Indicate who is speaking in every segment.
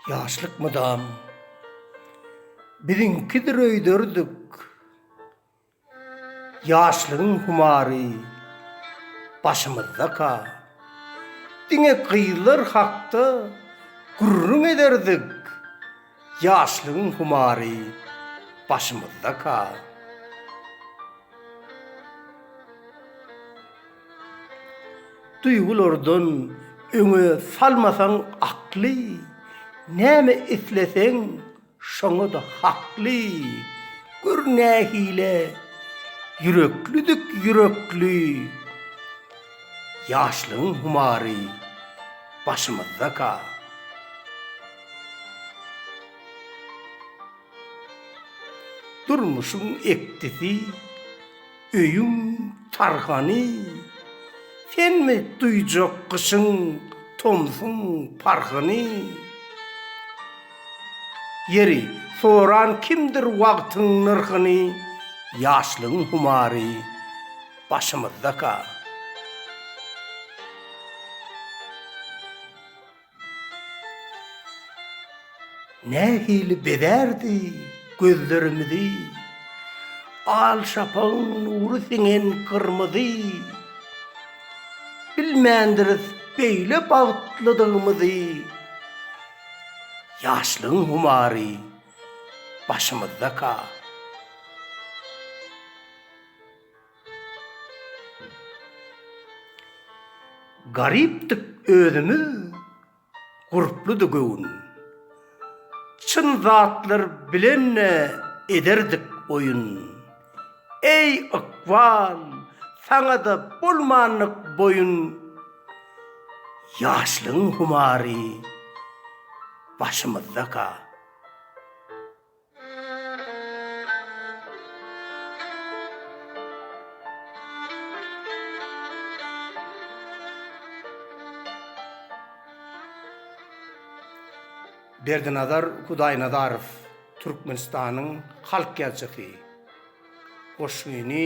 Speaker 1: Ýaşlyk mydam biziňkidir öýderdik. Ýaşlygyň humary başymyzdaka. Diňe gyzlar hakda gürrüň ederdik. Ýaşlygyň humary başymyzdaka. Duýgulardan öňe salmasaň akly, näme isleseň Şoňa-da hakly. Gör nähili ýüreklidik ýürekli ýaşlygyň humary başymyzdaka. Durmuşyň ekdisi. Öýüň tarhany Senmi duýjak gyşyň tomsuň parhyny Ýeri, soran kimdir wagtyň nyrhyny Ýaşlygyň humary başymyzdaka. Nähili bezärdi gözlerimizi Al şapagyň nury siňen gyrmyzy. Bilmändiris beýle bagtlydygymyzy, Ýaşlygyň humary başymyzdaka. Garypdyk özümiz, gurpludy göwün. Çyn zatlar bilen-de ederdik oýun. Eý, ykbal, saňa-da bolmandyk boýun. Ýaşlygyň humary başymyzdaka. Berdinazar Hudaýnazarow, Türkmenistanyň halk ýazjysy, goşgyny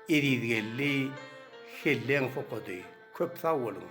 Speaker 1: Ezizgeldi Helleň okady. Köp sag boluň!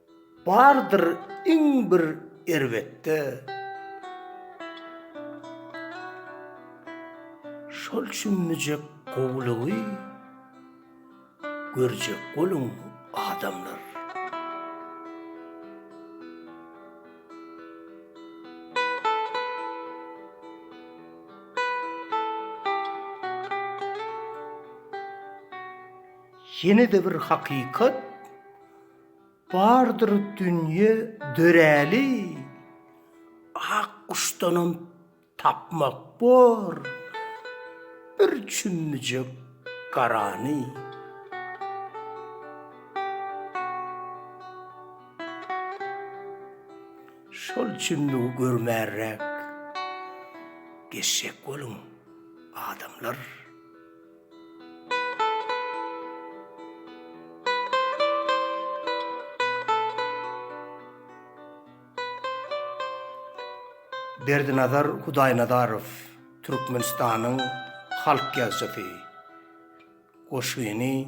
Speaker 1: Bardyr iň bir erbetde. Şol çümmüjek gowulygy görjek boluň adamlar. Ýene-de bir hakykat. Bardyr dünýe döräli, ak guşdanam tapmak bor bir çümmüjek garany. Şol çümmügi görmärräk geçjek boluň, adamlar! Berdinazar Hudaýnazarow, Türkmenistanyň halk ýazjysy, goşgyny.